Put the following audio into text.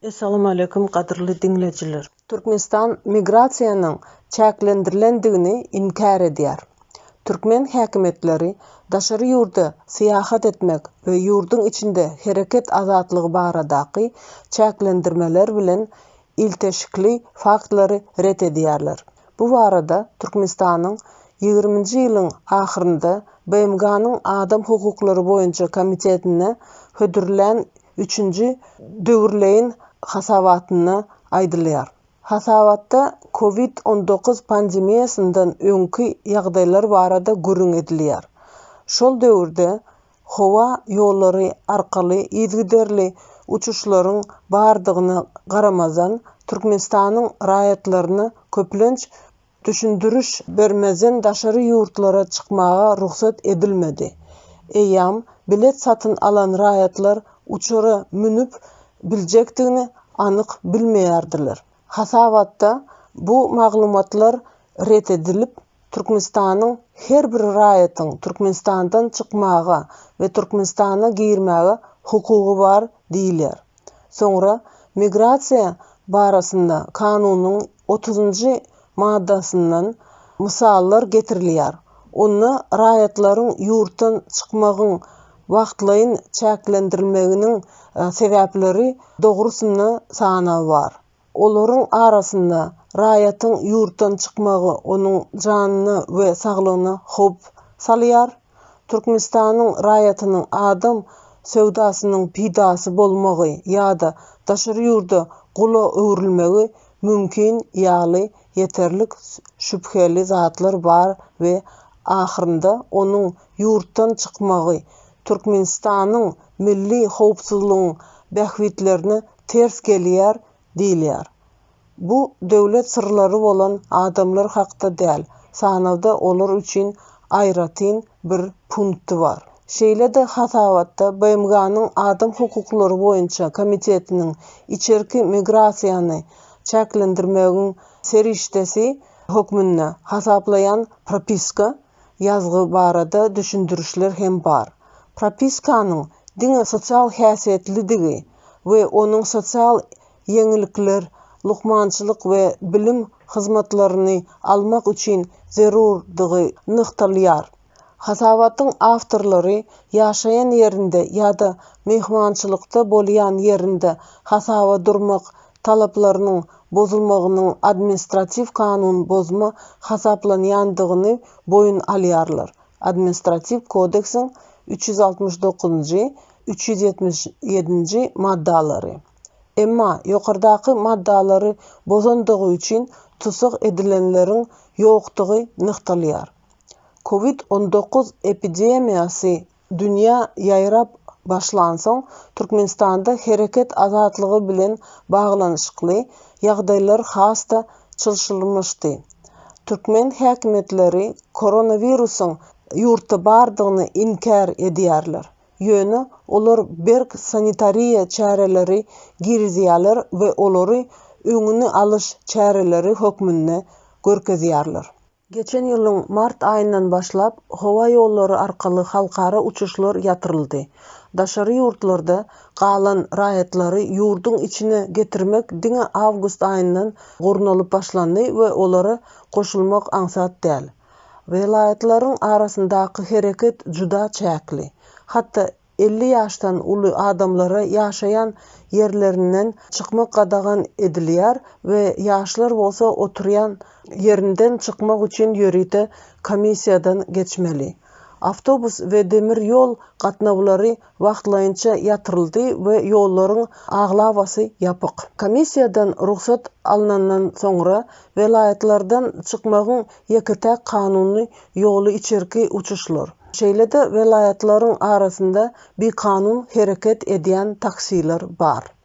Essalamualeýkum gadyrly diňleýjiler. Türkmenistan migrasiýanyň çäklendirilendigini inkär edýär. Türkmen häkimiýetleri daşary ýurda syýahat etmek we ýurduň içinde hereket azatlygy baradaky çäklendirmeler bilen ilteşikli faktlary ret edýärler. Bu barada Türkmenistanyň ýigriminji ýylyň ahyrynda BMG-niň Adam hukuklary boýunça komitetinde hödürlän üçünji döwürleýin hasabatynda aýdylýar. Hasabatda Covid on dokuz pandemiýasyndan öňki ýagdaýlar barada gürrüň edilýär. Şol döwürde howa ýollary arkaly yzygiderli uçuşlaryň bardygyna garamazdan, Türkmenistanyň raýatlaryna köplenç düşündiriş bermezden daşary ýurtlara çykmaga rugsat edilmedi. Eýýäm bilet satyn alan raýatlar uçara münüp biljekdigini anyk bilmeýärdiler. Hasabatda bu maglumatlar ret edilip, Türkmenistanyň her bir raýatyň Türkmenistandan çykmaga we Türkmenistana girmäge hukugy bar diýilýär. Soňra Migrasiýa barasynda kanunyň otuzynjy maddasyndan mysallar getirilýär. Onda raýatlaryň ýurtdan çykmagyň Wagtlaýyn çäklendirilmeginiň sebäpleri dogrusynda sanaw bar. Olaryň arasynda raýatyň ýurtdan çykmagy onuň janyna we saglygyna howp salýar, Türkmenistanyň raýatynyň adam söwdasynyň pidasy bolmagy ýa-da daşary ýurda gula öwrülmegi mümkin ýaly ýeterlik şübheli zatlar bar we ahyrynda onuň ýurtdan çykmagy Türkmenistanyň milli howpsuzlygyň bähbitlerine ters gelýär diýilýär. Bu döwlet syrlary bolan adamlar hakda däl, sanawda olar üçin aýratyn bir punkty bar. Şeýle-de hasabatda BMG-niň Adam hukuklary boýunça komitetiniň içerki migrasiýany çäklendirmegiň serişdesi hökmünde hasaplaýan propiska, ýazgy barada düşündirişler hem bar. Propiskanyň diňe sosial häsiýetlidigi we onuň sosial ýeňillikler, lukmançylyk we bilim hyzmatlaryny almak üçin zerurdygy nygtalýar. Hasabatyň awtorlary ýaşaýan ýerinde ýa-da myhmançylykda bolýan ýerinde hasaba durmak talaplarynyň bozulmagynyň administratiw kanun bozma hasaplanýandygyny boýun alýarlar, Administratiw kodeksiň üç ýüz altmyş dokuzynjy, üç ýüz ýetmiş ýedinji maddalary. Emma ýokardaky maddalary bozandygy üçin tussag edilenleriň ýokdugy nygtalýar. Covid on dokuz epidemiýasy Dünýä ýaýrap başlansoň, Türkmenistanda hereket azatlygy bilen baglanyşykly ýagdaýlar has-da çylşyrymyşdy. Türkmen häkimiýetleri koronawirusyň ýurtda bardygyny inkär edýärler, ýöne olar berk sanitariýa çäreleri girizýärler we olary öňüni alyş çäreleri hökmünde görkezýärler. Geçen ýylyň mart aýyndan başlap howa ýollary arkaly halkara uçuşlar ýatyryldy. Daşary ýurtlarda galan raýatlary ýurduň içine getirmek diňe awgust aýyndan gurnalyp başlandy we olara goşulmak aňsat däl. Welaýatlaryň arasyndaky hereket juda çäkli. Hatda elli ýaşdan uly adamlara ýaşaýan ýerlerinden çykmak gadagan edilýär we ýaşlar bolsa oturýan ýerinden çykmak üçin ýörite komissiýadan geçmeli. Awtobus we demir ýol gatnawlary wagtlaýynça ýatyryldy we ýollaryň aglabasy ýapyk. Komissiýadan rugsat alnandan soňra welaýatlardan çykmagyň ýeke-täk kanuny ýoly içerki uçuşlar. Şeýle-de welaýatlaryň arasynda bikanun hereket edýän taksiler bar.